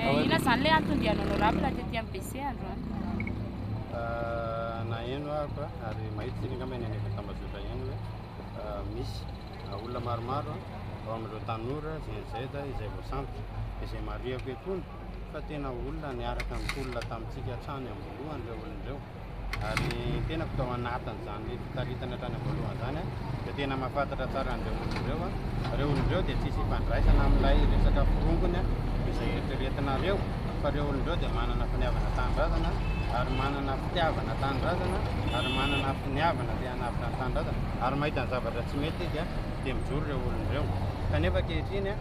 Inona izany ilay anton-diany honorable tety amin'ny BC androany? Naheno ahako ary mahita isika angamba eny anivon'ny tambazotra eny hoe misy olona maromaro ao amin'ireo tanora GNZ izay voasambotra. Izay marihako eto koa fa tena olona niaraka nitolona tamintsika hatrany am-boalohany ireo olona ireo. Ary ny tenako tao anatin'izany fitaritana hatrany am-boalohany izany dia tena mahafantatra tsara an'ireo olona ireo aho. Ireo olona ireo dia tsisy ifandraisana amin'ilay resaka forongony izay eritreretinareo fa ireo olona ireo dia manana finiavana tanindrazana ary manana fitiavana tanindrazana ary manana finiavana te hanavotra ny tanindrazana ary mahita ny zavatra tsy mety dia dia mijoro ireo olona ireo. Kanefa ankehitriny,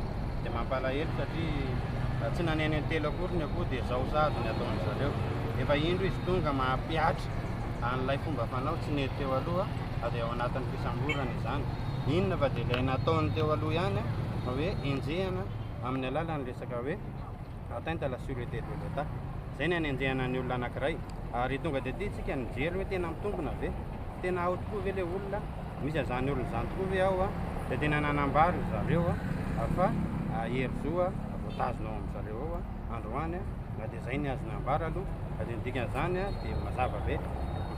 dia mampalahelo satria tsy naneno intelo akory ny akoho dia zao sahady ny ataon-dry zareo. Efa indro izy tonga mampihatra an'ilay fomba fanao tsy nety teo aloha fa dia ao anatin'ny fisamborana izany. Inona fa dia ilay nataony teo aloha ihany fa hoe enjehana amin'ny alalan'ny resaka hoe atteinte à la sûreté de l'Etat. Izay ny hanenjehana ny olona anankiray. Ary tonga dia ity isika nijery hoe tena mitombina ve? Tena ao tokoa ve le olona? Misy azany olona izany tokoa ve ao? Dia tena nanambary ry zareo fa hery zo voatazona ao amin'ny zareo ao androany. Na dia izay ny azo nambara aloha. Na dia ny dikan'izany dia mazava be.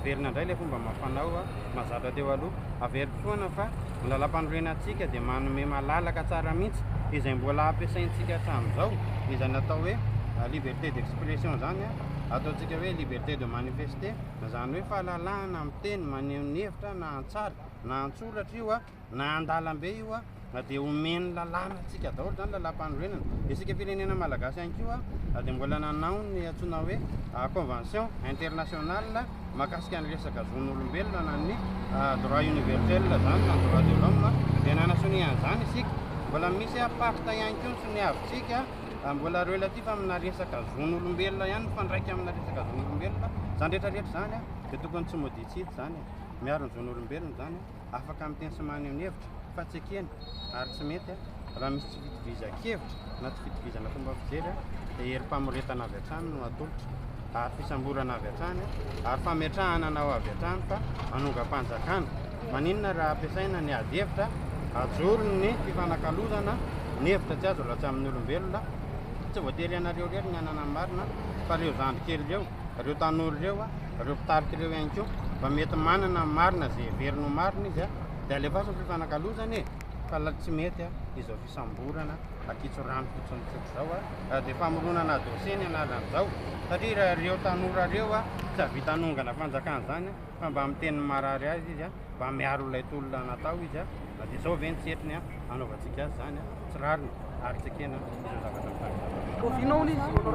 Miverina indray ilay fomba amam-panao mahazatra teo aloha. Averiko foana fa Ny Lalampanorenantsika dia manome malalaka tsara mihitsy izay mbola ampiasaintsika hatramin'izao, izay natao hoe liberté d'expression izany, ataontsika hoe liberté de manifester, izany hoe fahalalahana miteny, maneho ny hevitra na an-tsary na an-tsoratra io na an-dalambe io dia omen'ny lalàna antsika daholo izany Lalampanorenana. Isika firenena malagasy ihany koa dia mbola nanao ny antsoina hoe convention internationale Mahakasika ny resaka zon'olombelona na ny droit universel izany na droit de l'homme dia nanasonia an'izany isika. Mbola misy pacte ihany koa ny soniavintsika mbola relatif amina resaka zon'olombelona ihany mifandraika amina resaka zon'olombelona. Izany rehetra rehetra izany dia tokony tsy moditsidy izany. Miaro ny zon'olombelona izany. afaka miteny sy maneho ny hevitra fa tsy ekeny ary tsy mety raha misy tsy fitovizan-kevitra na tsy fitovizana fomba fijery dia herim-pamoretana avy hatrany no atolotra ary fisamborana avy hatrany ary fametrahana anao avy hatrany fa manongam-panjakana maninona raha ampiasaina ny ady hevitra ajoro ny fifanakalozana ny hevitra tsy azo raha tsy amin'ny olombelona tsy voatery ianareo irery ny hanana ny marina fa ireo zandry kely ireo reo tanora reo a, reo mpitarika reo ihany koa fa mety manana ny marina ze heveriny ho marina izy a de alefaso ny fifanakalozana e fa la tsy mety a izao fisamborana akitso rano fotsiny tsotra zao a de famoronana dossier ny analan'izao satria raha reo tanora reo a tsy avita hanongana fanjakana zany fa mba miteny marary azy izy a mba miaro ilay tolona natao izy a de zao ve ny setriny a anaovantsika azy zany a tsy rariny ary tsy ekena izao zavatra mitany Oviana hono izy honorable?